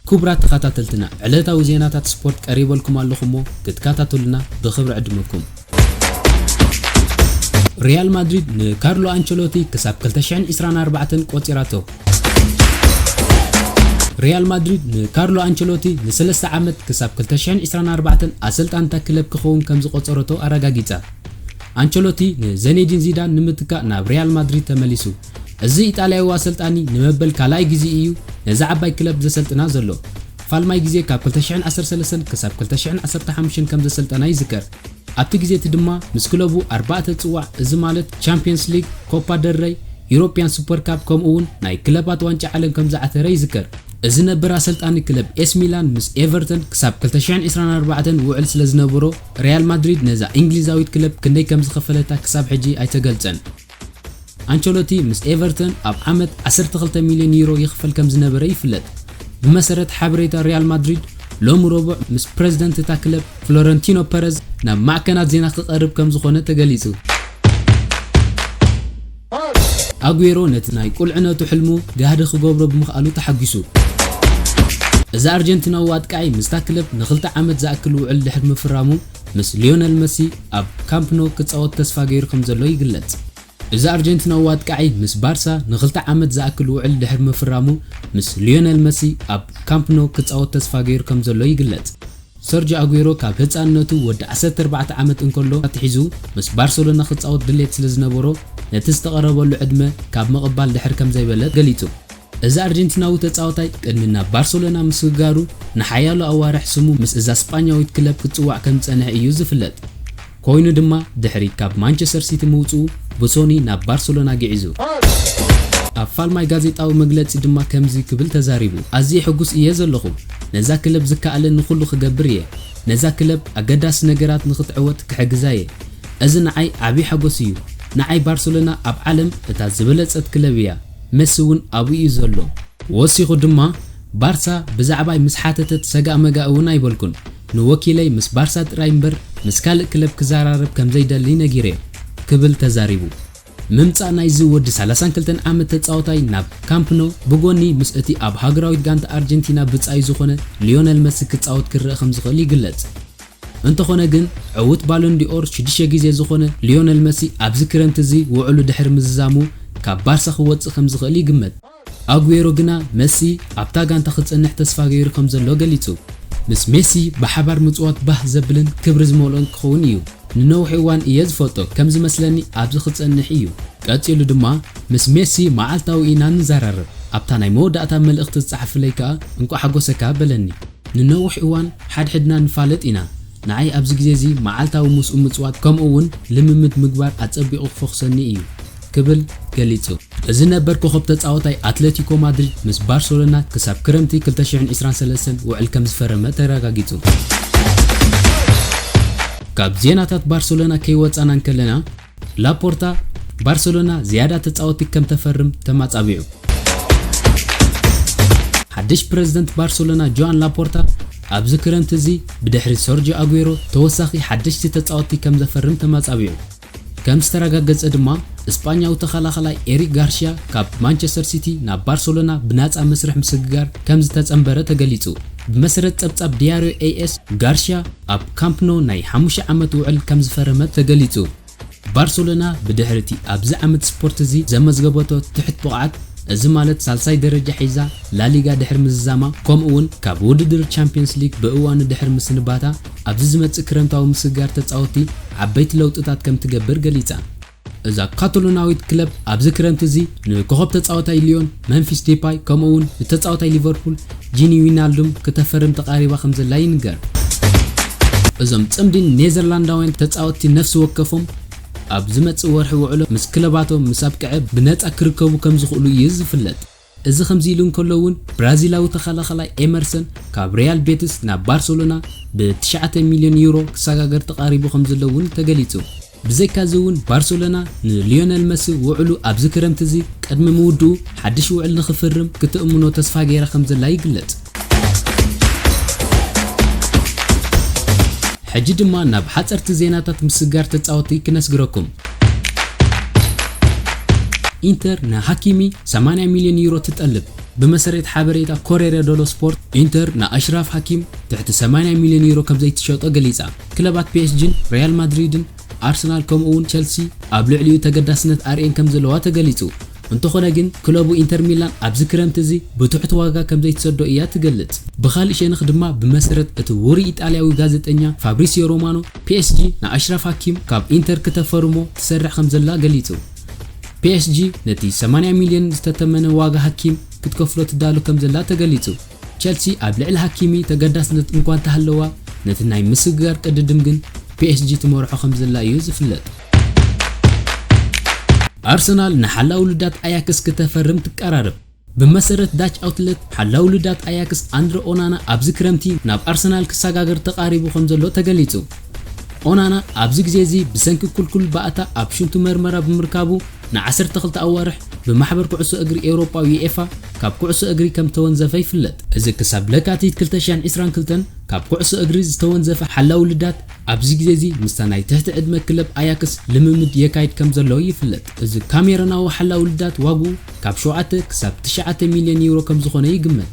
ክቡራት ተኸታተልትና ዕለታዊ ዜናታት ስፖርት ቀሪበልኩም ኣለኹሞ ክትከታተሉና ብክብሪ ዕድመኩም ሪያል ማድሪድ ንካርሎ ኣንቸሎቲ ክሳብ 224 ቆፂራቶ ሪያል ማድሪድ ንካርሎ ኣንቸሎቲ ንሰለስተ ዓመት ክሳብ ክልተ ሽሕን ዕስራን ኣርባዕተን ኣሰልጣኒ እታ ክለብ ክኸውን ከም ዝቖጸረቶ ኣረጋጊጻ። ኣንቸሎቲ ንዘኔዲን ዚዳን ንምትካእ ናብ ሪያል ማድሪድ ተመሊሱ። እዚ ኢጣልያዊ ኣሰልጣኒ ንመበል ካልኣይ ግዜኡ እዩ ነዛ ዓባይ ክለብ ዘሰልጥና ዘሎ። ፋልማይ ግዜ ካብ ክልተ ሽሕን ዓሰርተ ሰለስተን ክሳብ ክልተ ሽሕን ዓሰርተ ሓሙሽተን ከም ዘሰልጠና ይዝከር። ኣብቲ ግዜ እቲ ድማ ምስ ክለቡ ኣርባዕተ ጽዋዕ እዚ ማለት ቻምፕዮንስ ሊግ፣ ኮፓ ደል ረይ፣ ዩሮፕያን ሱፐር ካፕ ከምኡ'ውን ናይ ክለባት ዋንጫ ዓለም ከም ዝዓተረ ይዝከር። እዚ ነበር ኣሰልጣኒ ክለብ ኤስ ሚላን ምስ ኤቨርተን ክሳብ ክልተ ሽሕን ዕስራን ኣርባዕተን ውዕል ስለ ዝነበሮ፣ ሪያል ማድሪድ ነዛ ኢንግሊዛዊት ክለብ ክንደይ ከም ዝኸፈለታ ክሳብ ሕጂ ኣይተገልጸን። ኣንቸሎቲ ምስ ኤቨርተን ኣብ ዓመት ዓሰርተ ክልተ ሚልዮን ዩሮ ይኽፈል ከምዝነበረ ይፍለጥ። ብመሰረት ሓበሬታ ሪያል ማድሪድ ሎሚ ረቡዕ ምስ ፕረዚደንት እታ ክለብ ፍሎረንቲኖ ፐረዝ ናብ ማዕከናት ዜና ክቐርብ ከምዝኾነ ተገሊጹ። ኣጉዌሮ ነቲ ናይ ቁልዕነቱ ሕልሙ ጋህዲ ክገብሮ ብምኽኣሉ ተሓጒሱ። እዚ ኣርጀንቲናዊ ኣጥቃዒ ምስታ ክለብ ንኽልተ ዓመት ዝኣክል ውዕል ድሕሪ ምፍራሙ፣ ምስ ሊዮነል መሲ ኣብ ካምፕ ኖው ክጻወት ተስፋ ገይሩ ከምዘሎ ይግለጽ። እዚ ኣርጀንቲናዊ ኣጥቃዒ ምስ ባርሳ ንኽልተ ዓመት ዝኣክል ውዕል ድሕሪ ምፍራሙ፣ ምስ ሊዮነል መሲ ኣብ ካምፕ ኖው ክጻወት ተስፋ ገይሩ ከምዘሎ ይግለጽ። ሰርጆ ኣጉዌሮ ካብ ህጻንነቱ ወዲ ዓሰርተ ኣርባዕተ ዓመት እንከሎ ኣትሒዙ ምስ ባርሰሎና ክጻወት ድሌት ስለዝነበሮ፣ ነቲ ዝተቐረበሉ ዕድመ ካብ ምቕባል ድሕር ከምዘይበለ ገሊጹ። እዚ ኣርጀንቲናዊ ተጻዋታይ ቅድሚ ናብ ባርሰሎና ምስግጋሩ ንሓያሎ ኣዋርሕ ስሙ ምስ እዛ ስጳኛዊት ክለብ ክጽዋዕ ከም ዝጸንሐ እዩ ዝፍለጥ። ኮይኑ ድማ ድሕሪ ካብ ማንቸስተር ሲቲ ምውጽኡ ብሶኒ ናብ ባርሰሎና ግዒዙ። ኣብ ፋልማይ ጋዜጣዊ መግለጺ ድማ ከምዚ ክብል ተዛሪቡ፣ ኣዝየ ሕጉስ እየ ዘለኹ። ነዛ ክለብ ዝከኣለኒ ኩሉ ክገብር እየ። ነዛ ክለብ ኣገዳሲ ነገራት ንኽትዕወት ክሕግዛ እየ። እዚ ንዓይ ዓቢ ሓጎስ እዩ። ንዓይ ባርሰሎና ኣብ ዓለም እታ ዝበለጸት ክለብ እያ። መሲ እውን ኣብኡ እዩ ዘሎ። ወሲኹ ድማ፣ ባርሳ ብዛዕባይ ምስ ሓተተት ሰጋእመጋእ እውን ኣይበልኩን። ንወኪለይ ምስ ባርሳ ጥራይ እምበር ምስ ካልእ ክለብ ክዘራረብ ከም ዘይደሊ ነጊረዮ፣ ክብል ተዛሪቡ። ምምጻእ ናይዚ ወዲ ሰላሳን ክልተን ዓመት ተጻዋታይ ናብ ካምፕ ኖው፣ ብጎኒ ምስ እቲ ኣብ ሃገራዊት ጋንታ ኣርጀንቲና ብጻዩ ዝኾነ ሊዮነል መሲ ክጻወት ክረኣ ከም ዝኽእል ይግለጽ። እንተኾነ ግን ዕዉት ባሎን ዲ'ኦር ሽዱሽተ ግዜ ዝኾነ ሊዮነል መሲ ኣብዚ ክረምቲ እዚ ውዕሉ ድሕሪ ምዝዛሙ ካብ ባርሳ ክወጽእ ከምዝኽእል ይግመት። ኣጉዌሮ ግና መሲ ኣብታ ጋንታ ክጸንሕ ተስፋ ገይሩ ከምዘሎ ገሊጹ። ምስ ሜሲ ብሓባር ምጽዋት ባህ ዘብልን ክብሪ ዝመልኦን ክኸውን እዩ። ንነዊሕ እዋን እየ ዝፈልጦ፣ ከም ዝመስለኒ ኣብዚ ክጸንሕ እዩ። ቀጺሉ ድማ ምስ ሜሲ መዓልታዊ ኢና ንዘራረብ፣ ኣብታ ናይ መወዳእታ መልእኽቲ ዝጸሓፈለይ ከኣ እንቋዕ ሓጎሰካ በለኒ። ንነዊሕ እዋን ሓድሕድና ንፋለጥ ኢና። ንዓይ ኣብዚ ግዜ እዚ መዓልታዊ ምስኡ ምጽዋት ከምኡ እውን ልምምድ ምግባር ኣጸቢቑ ክፈዅሰኒ እዩ ክብል ገሊጹ። እዚ ነበር ኮኾብ ተጻዋታይ ኣትለቲኮ ማድሪድ ምስ ባርሰሎና ክሳብ ክረምቲ ክልተ ሽሕን ዕስራን ሰለስተን ውዕል ከምዝፈረመ ተረጋጊጹ። ካብ ዜናታት ባርሰሎና ከይወጻና እንከለና፣ ላፖርታ፣ ባርሰሎና ዝያዳ ተጻወትቲ ከም ተፈርም ተማጻቢዑ። ሓድሽ ፕረዚደንት ባርሰሎና ጆኣን ላፖርታ፣ ኣብዚ ክረምቲ እዚ ብድሕሪ ሰርጂዮ ኣጉዌሮ ተወሳኺ ሓደሽቲ ተጻወትቲ ከም ዘፈርም ተማጻቢዑ። ከም ዝተረጋገጸ ድማ፣ ስጳኛዊ ተኸላኸላይ ኤሪክ ጋርሽያ ካብ ማንቸስተር ሲቲ ናብ ባርሰሎና ብናጻ መስርሕ ምስግጋር ከም ዝተጸንበረ ተገሊጹ። ብመሰረት ጸብጻብ ዲያርዮ ኤኤስ፣ ጋርሽያ፣ ኣብ ካምፕ ኖው ናይ ሓሙሽተ ዓመት ውዕል ከምዝፈረመት ተገሊጹ። ባርሰሎና ብድሕሪ'ቲ ኣብዚ ዓመት ስፖርት'ዚ ዘመዝገበቶ ትሕት ብቕዓት፣ እዚ ማለት ሳልሳይ ደረጃ ሒዛ ላሊጋ ድሕሪ ምዝዛማ ከምኡ'ውን ካብ ውድድር ቻምፕዮንስ ሊግ ብእዋኑ ድሕሪ ምስንባታ፣ ኣብዚ ዝመጽእ ክረምታዊ ምስግጋር ተጻወትቲ ዓበይቲ ለውጥታት ከምትገብር ገሊጻ። እዛ ካታሎናዊት ክለብ ኣብዚ ክረምቲ እዚ ንኮኾብ ተጻዋታይ ሊዮን መምፊስ ዴፓይ ከምኡ'ውን ንተጻዋታይ ሊቨርፑል ጂኒ ዊናልዱም ክተፈርም ተቓሪባ ከምዘላ ይንገር። እዞም ጽምዲ ኔዘርላንዳውያን ተጻወትቲ ነፍሲ ወከፎም ኣብ ዝመጽእ ወርሒ ውዕሎ ምስ ክለባቶም ምስ ኣብቅዐ ብነጻ ክርከቡ ከምዝኽእሉ እዩ ዝፍለጥ። እዚ ከምዚ ኢሉ እንከሎ እውን ብራዚላዊ ተኸላኻላይ ኤመርሰን ካብ ሪያል ቤትስ ናብ ባርሰሎና ብ ትሽዓተ ሚልዮን ዩሮ ክሰጋገር ተቓሪቡ ከምዘሎ እውን ተገሊፁ። ብዘይካዚ እውን ባርሰሎና ንሊዮነል መሲ ውዕሉ ኣብዚ ክረምቲ እዚ ቅድሚ ምውድኡ ሓድሽ ውዕል ንኽፍርም ክተእምኖ ተስፋ ገይራ ከምዘላ ይግለፅ። ሕጂ ድማ ናብ ሓጸርቲ ዜናታት ምስጋር ተጻወቲ ክነስግረኩም። ኢንተር ንሃኪሚ ሰማንያ ሚልዮን ዩሮ ትጠልብ። ብመሰረት ሓበሬታ ኮሬረ ደሎ ስፖርት ኢንተር ንኣሽራፍ ሃኪም ትሕቲ ሰማንያ ሚልዮን ዩሮ ከም ዘይትሸጦ ገሊጻ። ክለባት ፒኤስጂን ሪያል ማድሪድን ኣርሰናል ከምኡ'ውን ቸልሲ ኣብ ልዕሊኡ ተገዳስነት ኣርእየን ከም ዘለዋ ተገሊጹ። እንተኾነ ግን ክለቡ ኢንተር ሚላን ኣብዚ ክረምቲ እዚ ብትሑት ዋጋ ከምዘይትሰዶ እያ ትገልጽ። ብኻልእ ሸንኽ ድማ ብመሰረት እቲ ውሩይ ኢጣልያዊ ጋዜጠኛ ፋብሪሲዮ ሮማኖ፣ ፒኤስጂ ንኣሽራፍ ሃኪም ካብ ኢንተር ክተፈርሞ ትሰርሕ ከምዘላ ገሊጹ። ፒኤስጂ ነቲ ሰማንያ ሚልዮን ዝተተመነ ዋጋ ሃኪም ክትከፍሎ ትዳሎ ከምዘላ ተገሊጹ። ቸልሲ ኣብ ልዕሊ ሃኪሚ ተገዳስነት እንኳ እንተሃለዋ ነቲ ናይ ምስግጋር ቅድድም ግን ፒኤስጂ ትመርሖ ከምዘላ እዩ ዝፍለጥ። ኣርሰናል ንሓላዊ ልዳት ኣያክስ ክተፈርም ትቀራረብ። ብመሰረት ዳች ኣውትለት፣ ሓላዊ ልዳት ኣያክስ ኣንድረ ኦናና ኣብዚ ክረምቲ ናብ ኣርሰናል ክሰጋገር ተቓሪቡ ከምዘሎ ተገሊጹ። ኦናና ኣብዚ ግዜ እዚ ብሰንኪ ክልኩል ባእታ ኣብ ሽንቱ መርመራ ብምርካቡ ንዓሰርተ ክልተ ኣዋርሕ ብማሕበር ኩዕሶ እግሪ ኤውሮጳ ዩኤፋ ካብ ኩዕሶ እግሪ ከምተወንዘፈ ይፍለጥ። እዚ ክሳብ ለካቲት ክልተ ሺሕን ዕስራን ክልተን ካብ ኩዕሶ እግሪ ዝተወንዘፈ ሓላዊ ልዳት ኣብዚ ግዜ እዚ ምስታ ናይ ትሕቲ ዕድመ ክለብ ኣያክስ ልምምድ የካይድ ከም ዘሎ ይፍለጥ። እዚ ካሜሮናዊ ሓላዊ ልዳት ዋግኡ ካብ ሸውዓተ ክሳብ ትሽዓተ ሚልዮን ዩሮ ከም ዝኾነ ይግመት።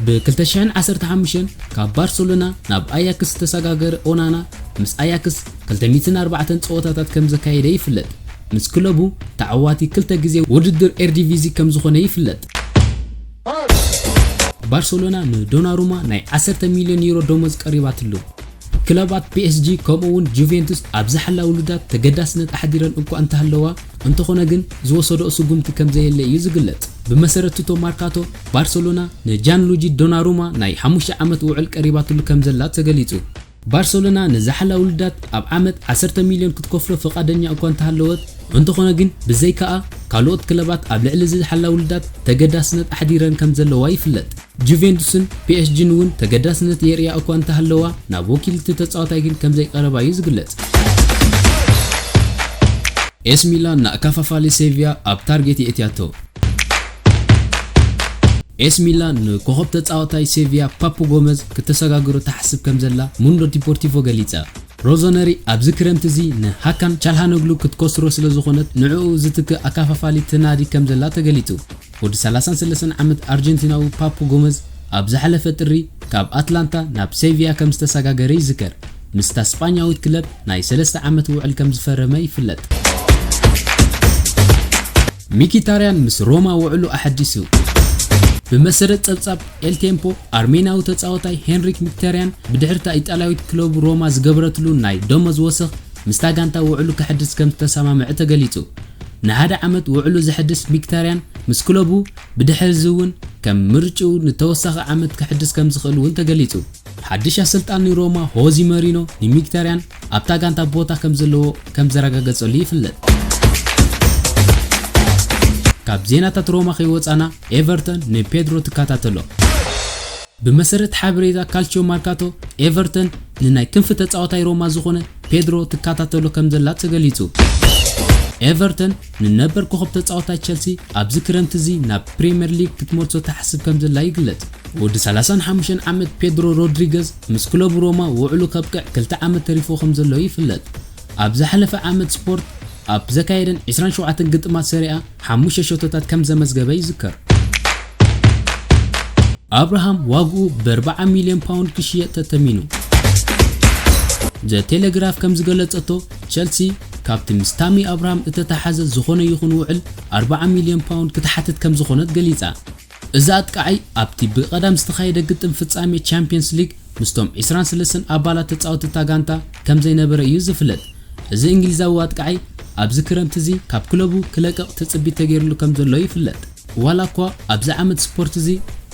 ብ ክልተ ሽሕን ዓሰርተ ሓሙሽተን ካብ ባርሰሎና ናብ ኣያክስ ዝተሰጋገረ ኦናና ምስ ኣያክስ ክልተ ሚእትን ኣርባዕተን ጸወታታት ከም ዘካየደ ይፍለጥ። ምስ ክለቡ ተዓዋቲ ክልተ ግዜ ውድድር ኤርዲቪዚ ከም ዝኾነ ይፍለጥ። ባርሰሎና ንዶናሩማ ናይ ዓሰርተ ሚልዮን ዩሮ ደሞዝ ቀሪባትሉ። ክለባት ፒኤስጂ ከምኡ'ውን ጁቬንቱስ ኣብ ዝሓላ ውሉዳት ተገዳስነት ኣሕዲረን እኳ እንተሃለዋ፣ እንተኾነ ግን ዝወሰድኦ ስጉምቲ ከምዘየለ እዩ ዝግለጽ። ብመሰረት ቱቶ ማርካቶ፣ ባርሰሎና ንጃንሉጂ ዶናሩማ ናይ ሓሙሽተ ዓመት ውዕል ቀሪባትሉ ከምዘላ ተገሊጹ። ባርሰሎና ንዝሓላ ውሉዳት ኣብ ዓመት ዓሰርተ ሚልዮን ክትከፍሎ ፍቓደኛ እኳ እንተሃለወት፣ እንተኾነ ግን ብዘይካኣ ካልኦት ክለባት ኣብ ልዕሊ ዝሓላ ውሉዳት ተገዳስነት ኣሕዲረን ከምዘለዋ ይፍለጥ። ጁቬንቱስን ፒኤስጂን እውን ተገዳስነት የርእያ እኳ እንተሃለዋ፣ ናብ ወኪል እቲ ተጻዋታይ ግን ከም ዘይቀረባ'ዩ ዝግለጽ። ኤሲ ሚላን ንኣከፋፋሊ ሴቪያ ኣብ ታርጌት የእትያቶ። ኤሲ ሚላን ንኮኾብ ተጻዋታይ ሴቪያ ፓፑ ጎመዝ ክተሰጋግሮ ትሓስብ ከም ዘላ ሙንዶ ዲፖርቲቮ ገሊጻ። ሮዞነሪ ኣብዚ ክረምቲ እዚ ንሃካን ቻልሃኖግሉ ክትኮስሮ ስለ ዝኾነት ንዕኡ ዝትክእ ኣከፋፋሊ ትናዲ ከም ዘላ ተገሊጹ። ወዲ ሰላሳን ሰለስተን ዓመት ኣርጀንቲናዊ ፓፑ ጎመዝ ኣብ ዝሓለፈ ጥሪ ካብ ኣትላንታ ናብ ሴቪያ ከም ዝተሰጋገረ ይዝከር፣ ምስታ ስጳኛዊት ክለብ ናይ ሰለስተ ዓመት ውዕል ከም ዝፈረመ ይፍለጥ። ሚኪታርያን ምስ ሮማ ውዕሉ ኣሐዲሱ። ብመሰረት ጸብጻብ ኤል ቴምፖ፣ ኣርሜናዊ ተጻዋታይ ሄንሪክ ሚኪታርያን ብድሕሪ'ታ ኢጣልያዊት ክለቡ ሮማ ዝገበረትሉ ናይ ደሞዝ ወሰኽ፣ ምስታ ጋንታ ውዕሉ ከሐድስ ከምዝተሰማምዐ ተገሊጹ። ንሓደ ዓመት ውዕሉ ዘሐድስ ሚክታርያን ምስ ክለቡ ብድሕሪ'ዚ'ውን ከም ምርጭኡ ንተወሳኺ ዓመት ከሐድስ ከምዝኽእል'ውን ተገሊጹ። ሓድሽ ኣሰልጣኒ ሮማ ሆዚ መሪኖ ንሚክታርያን ኣብታ ጋንታ ቦታ ከምዘለዎ ከምዘረጋገጸሉ ይፍለጥ። ካብ ዜናታት ሮማ ከይወጻና ኤቨርተን ንፔድሮ ትከታተሎ። ብመሰረት ሓበሬታ ካልችዮ ማርካቶ ኤቨርተን ንናይ ክንፊ ተጻዋታይ ሮማ ዝኾነ ፔድሮ ትከታተሎ ከምዘላ ተገሊጹ። ኤቨርተን ንነበር ኮኾብ ተጻዋታይ ቸልሲ ኣብዚ ክረምቲ እዚ ናብ ፕሪመር ሊግ ክትመልሶ ትሓስብ ከምዘላ ይግለጽ። ወዲ ሰላሳን ሓሙሽተን ዓመት ፔድሮ ሮድሪገዝ ምስ ክለቡ ሮማ ውዕሉ ከብቅዕ ክልተ ዓመት ተሪፍዎ ከምዘሎ ይፍለጥ። ኣብ ዝሓለፈ ዓመት ስፖርት ኣብ ዘካየደን ዕስራን ሸውዓተን ግጥማት ሰሪኣ ሓሙሽተ ሸቶታት ከም ዘመዝገበ ይዝከር። ኣብርሃም ዋግኡ ብኣርብዓ ሚልዮን ፓውንድ ክሽየጥ ተተሚኑ። ዘ ቴሌግራፍ ከም ዝገለጸቶ ቸልሲ ካብቲ ምስ ታሚ ኣብርሃም እተተሓዘ ዝኾነ ይኹን ውዕል ኣርብዓ ሚልዮን ፓውንድ ክትሓትት ከም ዝኾነት ገሊጻ። እዚ ኣጥቃዓይ ኣብቲ ብቀዳም ዝተኻየደ ግጥም ፍጻሜ ቻምፕየንስ ሊግ ምስቶም ዕስራን ሰለስተን ኣባላት ተጻወቲ እታ ጋንታ ከምዘይነበረ እዩ ዝፍለጥ። እዚ እንግሊዛዊ ኣጥቃዓይ ኣብዚ ክረምቲ እዚ ካብ ክለቡ ክለቅቕ ትጽቢት ተገይርሉ ከምዘሎ ይፍለጥ። ዋላኳ ኣብዚ ዓመት ስፖርት እዚ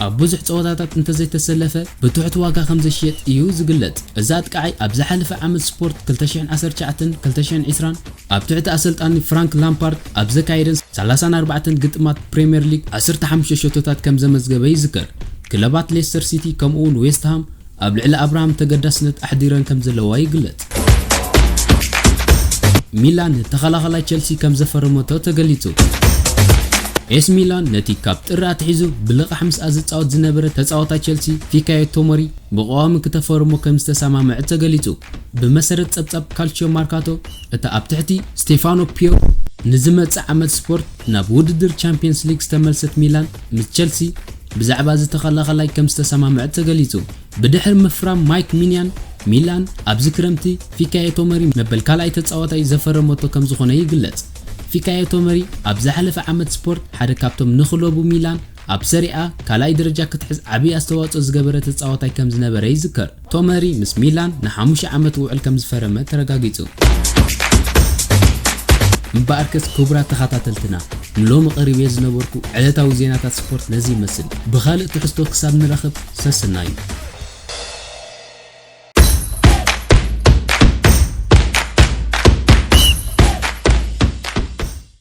ኣብ ብዙሕ ጸወታታት እንተዘይተሰለፈ ብትሑት ዋጋ ከምዘሽየጥ እዩ ዝግለጽ። እዚ ኣጥቃዓይ ኣብ ዝሓለፈ ዓመት ስፖርት ክልተ ሽሕን ዓሰርተ ትሽዓተን ክልተ ሽሕን ዕስራን፣ ኣብ ትሕቲ ኣሰልጣኒ ፍራንክ ላምፓርድ ኣብ ዘካየደን ሰላሳን ኣርባዕተን ግጥማት ፕሪምየር ሊግ ዓሰርተ ሓሙሽተ ሸቶታት ከም ዘመዝገበ ይዝከር። ክለባት ሌስተር ሲቲ ከምኡ'ውን ዌስትሃም ኣብ ልዕሊ ኣብርሃም ተገዳስነት ኣሕዲረን ከም ዘለዋ ይግለጽ። ሚላን ተኸላኻላይ ቸልሲ ከም ዘፈረመቶ ተገሊጹ። ኤስ ሚላን ነቲ ካብ ጥሪ ኣትሒዙ ብልቓሕ ምስኣ ዝጻወት ዝነበረ ተጻዋታይ ቸልሲ ፊካዮ ቶሞሪ ብቐዋሚ ክተፈርሞ ከም ዝተሰማምዐት ተገሊጹ። ብመሰረት ጸብጻብ ካልቺዮ ማርካቶ፣ እታ ኣብ ትሕቲ ስቴፋኖ ፒዮሊ ንዝመጽእ ዓመት ስፖርት ናብ ውድድር ቻምፕየንስ ሊግ ዝተመልሰት ሚላን ምስ ቸልሲ ብዛዕባ እዚ ተኸላኸላይ ከምዝተሰማምዐት ተገሊጹ። ብድሕሪ ምፍራም ማይክ ሚንያን ሚላን ኣብዚ ክረምቲ ፊካዮ ቶመሪ መበል ካልኣይ ተጻዋታይ ዘፈረመቶ ከምዝኾነ ይግለጽ። ፊካዮ ቶመሪ ኣብ ዝሓለፈ ዓመት ስፖርት ሓደ ካብቶም ንክለቡ ሚላን ኣብ ሰሪኣ ካልኣይ ደረጃ ክትሕዝ ዓቢ ኣስተዋጽኦ ዝገበረ ተጻዋታይ ከምዝነበረ ይዝከር። ቶመሪ ምስ ሚላን ንሓሙሽተ ዓመት ውዕል ከም ዝፈረመ ተረጋጊጹ። እምበኣርከስ ክቡራት ተኻታተልትና ንሎሚ ቀሪበዮ ዝነበርኩ ዕለታዊ ዜናታት ስፖርት ነዚ ይመስል። ብኻልእ ትሕዝቶ ክሳብ ንረኽብ ሰስናዩ።